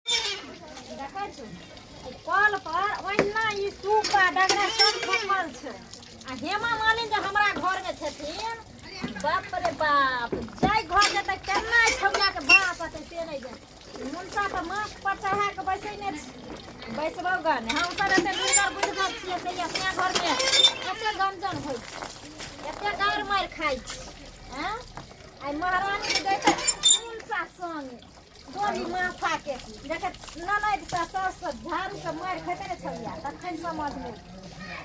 देखै छौ ओ कल पर ओहिना ई सूप आ डगरा सब खसल छै आ हेमा मालिन जे हमरा घर में छथिन बाप रे बाप जाय घर के तऽ केना छौला के बाप अते से नहि जाय मुनसा तऽ माथ पर चढ़ा के बैसेने छै बैसबो गन हम सब एते लुकर बुझबो छियै से अपना घर में एते गंजन होइ छै एते गार मार खाइ छै हैं आइ महारानी के दैते मुनसा संग डोरी माथा के देखे ननद से सास से झाड़ू से मार खेते ने छलिया तखन समझ में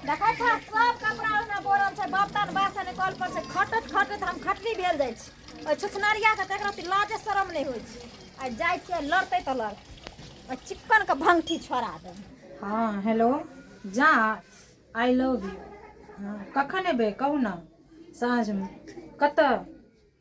देखे छा सब कपड़ा ओना बोरल छै बर्तन बासन कल पर से खटत खटत हम खटनी भेल जाइ छी ओहि छुछनरिया के तकरा ती लाजे शरम नहि होइ छै आ जाइ छियै लड़तै तऽ लड़ आ चिक्कन के भंगठी छोड़ा दे हाँ हेलो जा आई लव यू हाँ कखन एबै कहू ने साँझमे कतऽ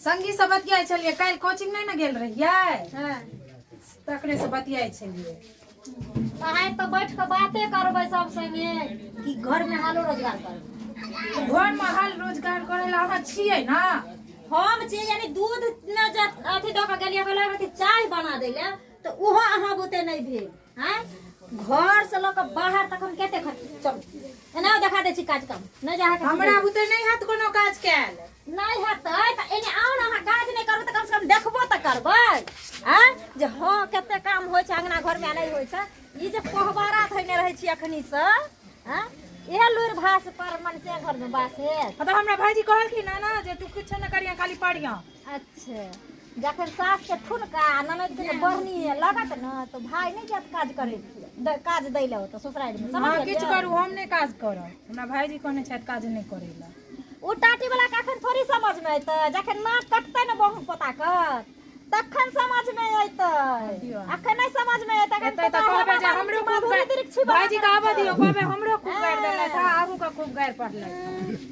संगी से बतियाई छलिए काल कोचिंग नहीं ना गेल रहिए हां तकरे से बतियाई छलिए पढ़ाई तो बैठ के बातें करबे सब संगे कि घर में हालो रोजगार कर घर में हाल रोजगार करे ला हम छिए ना हम छिए यानी दूध न अथी द के गेलिए कहले चाय बना दे ले तो उहो अहाँ बुते नहीं भेल आँय घरसँ लऽ कऽ बाहर तक हम कते खर्च चलू एना देखा दै छी काज काम नहि जा अहाँके हमरा बुते नहि हैत कोनो काज कयल नहि हेतै तऽ एने आउ ने अहाँ काज नहि करबै तऽ कमसँ कम देखबो तऽ करबै आँय जे हँ कते काम होइ छै अङ्गना घरमे नहि होइ छै ई जे कोहबारा धैने रहै छी एखनीसँ आँय इहे लुरि भास पर मन से घरमे बास हेत हँ तऽ हमरा भाईजी कहलखिन हँ ने जे तू किछो नहि करिया खाली पढ़िया अच्छा जखन सासके ठुनका आ ननदके जे बढ़नी लगत ने तऽ भाय नहि जायत काज करै द- काज दै लए ओतऽ ससुरारिमे समझ अहाँ किछु गेलियै? करू हम नहि काज करब हमरा भाइजी कहने छथि काज नहि करै लए ओ टाटी वाला के अखन थोड़ी समझ में एतै जखन नाक कटतै ने बहु पोता के तखन समझ में एतै दियौ। अखन नहि समझ में एतै अखन एतै तऽ पोता कहबै जे हमरा हमरो बाबूजी खूब माधुरी गारि दीक्षित भाइजी के आबऽ दियौ कहबै हमरो खूब गारि देलथि हँ अहूँके खूब गारि पड़लथि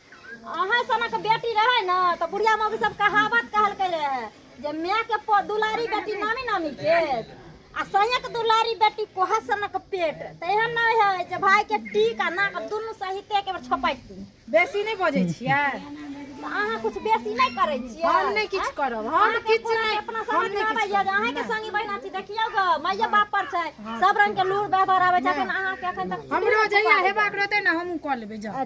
अहाँ सनक बेटी रहै ने तऽ बुढ़िया मौगी सब कहावत कहलकै रहे जे माय के प- दुलारी बेटी नामी नामी के आ सैयक दुलारी बेटी कोहा सनक पेट तऽ एहन नहि है जे भाई के टीक आ नाक दुनू सहिते एके बेर छपैत दी। बेसी नहि बजै छियै तऽ अहाँ कुछ बेसी नहि करै छियै हम नहि किछु आँय? करब हम अहाँके किछु पूरा नहि अपना हम समझ नहि आबै किछु या जे करब अहाँके संगी बहिना छी देखियौ ग मैया बाप पर छै सब रंग के लूर व्यवहार आबै छै अखन अहाँके अखन तक हमरो जहिया हेबाक रहतै ने हमहूँ कऽ लेबै जाउ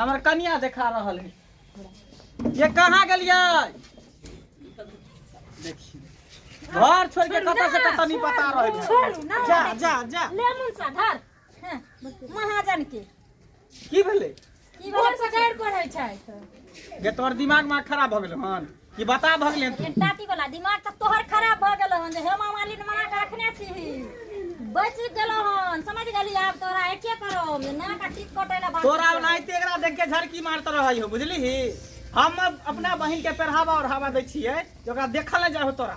हमर कनिया देखा रहल है ये कहाँ गलिए घर छोड़ के कत से कत नहीं पता रहे जा जा जा लेमन सा धर हाँ, महाजन के की भेले की बोल से गाड़ पढ़ै छै ये तोर दिमाग में खराब हो गेल हन ई बता भऽ गेलै तू टाटी वाला दिमाग तऽ तोहर खराब भऽ गेल हन जे हेमा मालिन मना कऽ रखने छी बच गेलो हन समझ गेली आब तोरा एके करो ना का टिक कटे ना बात तोरा ओनाहिते एकरा देख के झड़की मारत रहै हो बुझली हम अपना बहिन के पढ़ावा और हवा दै छियै जे ओकरा देखल नहि जाय हो तोरा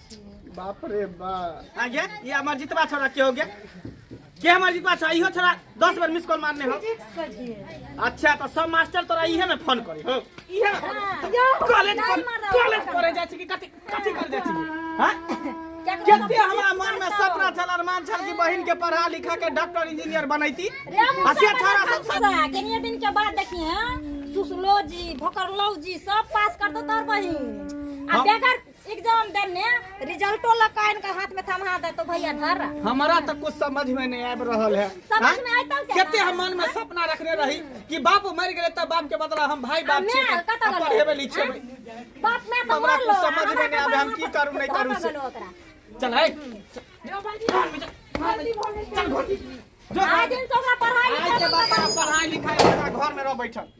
बाप रे बा आ गया ये हमार जितवा छोरा के हो गया के हमार जितवा छोरा इहो छोरा दस बार मिस कॉल मारने हो अच्छा तो सब मास्टर तोरा इहे में फोन करे हो इहे कॉलेज पर कॉलेज पर जाय छी कि कथि कथि कर जाय छी हां केते हमरा मन में सपना छल अरमान छल कि बहिन के पढ़ा लिखा के डॉक्टर इंजीनियर बनैती आ से छोरा सब सब कनिए दिन के बाद देखिए हाँ, सुसलो जी भोकरलो जी सब पास कर दो तोर बहिन आ हम- बेगर एग्जाम देने रिजल्टो लऽ कऽ आनि कऽ हाथ में थमा देतो भैया धर हमारा तो कुछ समझ में नहीं आबि रहल है समझ हाँ? में आइतौ केना? कते हम मन में सपना रखने रही कि बाप मर गेले तब बाप के बदला हम भाई बाप माय छियै कतऽ आ गेलै? पढ़ेबै लिखेबै बाप में तो हमरा मर कुछ लो समझ में नहीं आबे हम की करू नहीं करू से ओकरा चल है आज दिन से ओकरा पढ़ाई आज के बाद पढ़ाई लिखाई हमरा घर में रह बैठल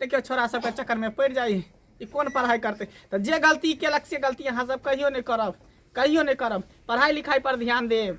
देखियौ छोरा सबके चक्करमे पड़ि जाइ ई कोन पढ़ाइ करतै तऽ जे गलती केलक से गलती अहाँ सब कहियो नहि करब कहियो नहि करब पढ़ाइ लिखाइ पर ध्यान देब